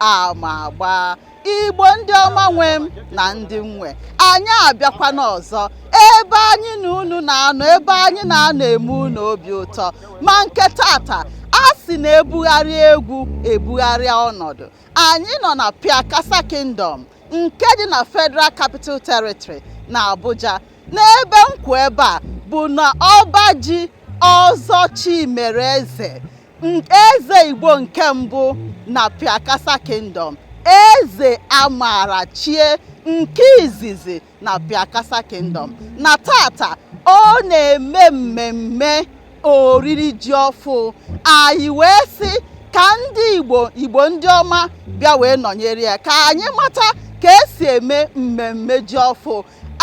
ama agba igbo ndị ọma nwe m na ndị m nwe anyị abịakwana ọzọ ebe anyị na unu na-anọ ebe anyị na-anọ eme unu obi ụtọ ma nke tata a sị na ebugharịa egwu ebugharịa ọnọdụ anyị nọ na Piakasa Kingdom nke dị na Federal Capital Territory na Abuja n'ebe m kwụ ebe a bụ na ọba ji ọzọ Chimereze eze igbo nke mbụ na piakasa kingdom eze amara chie nke izizi na piakasa kingdom na tata ọ na-eme mmemme oriri ji ọfụ anyị wee sị ka ndị igbo igbo ndị ọma bịa wee nọnyere ya ka anyị mata ka esi eme mmemme ji ọfụ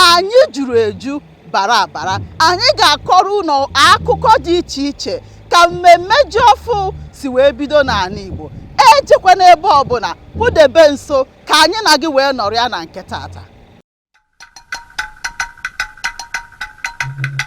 anyị juru eju bara abara anyị ga-akọrọ ụlọ akụkọ dị iche iche ka mmemme ji ọfụ si wee bido n'anị Igbo ejekwana ebe ọbụna kpụdebe nso ka anyị na gị wee nọrịa na nke tata